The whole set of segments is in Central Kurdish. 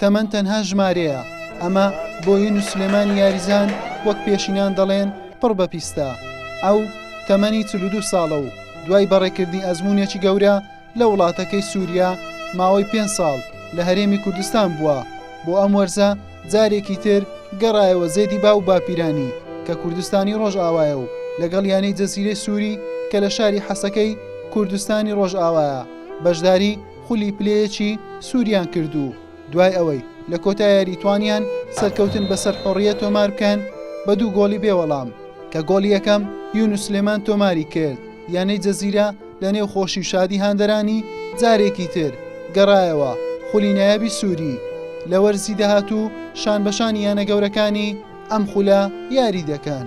تەمەن تەنها ژمارەیە، ئەمە بۆین و سلێمانی یاریزان وەک پێشینان دەڵێن پڕ بە پیستە. ئەو تەمەنی چل و دوو ساڵە و دوای بەڕێکردنی ئەزموونێکی گەورە لە وڵاتەکەی سووریا، ماوەی پێنج ساڵ لە هەرێمی کوردستان بووە، بۆ ئەم وەرزە جارێکی تر گەڕایەوە زێدی باو و باپیرانی کە کوردستانی ڕۆژئاوایە و لەگەڵ یانەی جەزیرەی سووری کە لە شاری حەسەکەی کوردستانی ڕۆژئاوایە بەشداری خولی پلەیەکی سووریان کرد و دوای ئەوەی لە کۆتا یاری توانیان سەرکەوتن بەسەر حڕیە تۆمار بکەن بە دوو گۆڵی بێوەڵام کە گۆڵی یەکەم یونسلێمان تۆماری کرد یانەی جەزیرە لە نێو خۆشی و شادی هاندەرانی جارێکی تر گەڕایەوە خولی نایابی سووری لە وەرزی داهاتوو شان بەشانی یانە گەورەکانی ئەم خولە یاری دەکەن.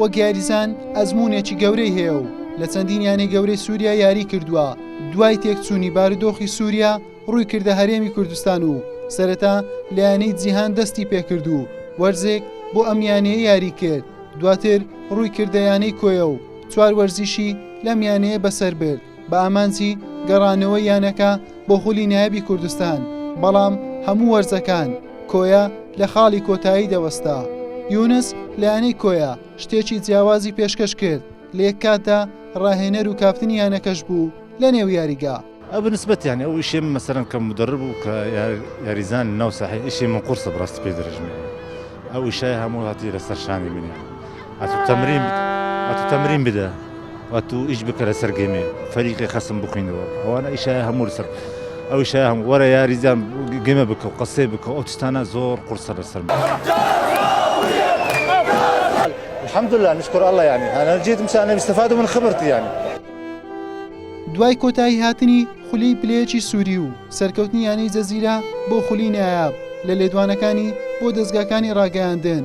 وەک یاریزان ئەزموونێکی گەورەی هەیە و لە چەندین یانەی گەورەی سووریا یاری کردووە، دوای تێکچوونی بارودۆخی سووریا ڕووی کردە هەرێمی کوردستان و سەرەتا لە یانەی جیهان دەستی پێکرد و وەرزێک بۆ ئەم یانەیە یاری کرد، دواتر ڕووی کردە یانەی کۆیە و چوار وەرزیشی لەم یانەیە بەسەر برد. بە ئامانجی گەڕانەوەی یانەکە بۆ خولی نایەبی کوردستان، بەڵام هەموو وەرزەکان کۆیە لە خاڵی کۆتایی دەوەستا. یونس لە یانەی کۆیە شتێکی جیاوازی پێشکەش کرد، لە یەک کاتدا راهێنەر و کاپتنی یانەکەش بوو لەنێو یاریگا. ئەتوو تەمرین بدە ئەتوو تەمرین بدە ئەتوو ئیش بکە لەسەر گێمێ فەریقێ خەسم بخوێنەوە ئەوانە ئیشای هەموو لەسەر ئەو ئیشای هەموو وەرە یاریزان گێمە بکە و قەسەی بکە ئەو تشتانە زۆر قورسە لەسەر من الحمد لله نشكر الله يعني انا جيت مشان النبي استفادوا من خبرتي يعني دوای کۆتایی هاتنی خولی پلەیەکی سووری و سەرکەوتنی یانەی جەزیرە بۆ خولی نایاب لە لێدوانەکانی بۆ دەستگاکانی ڕاگەیاندن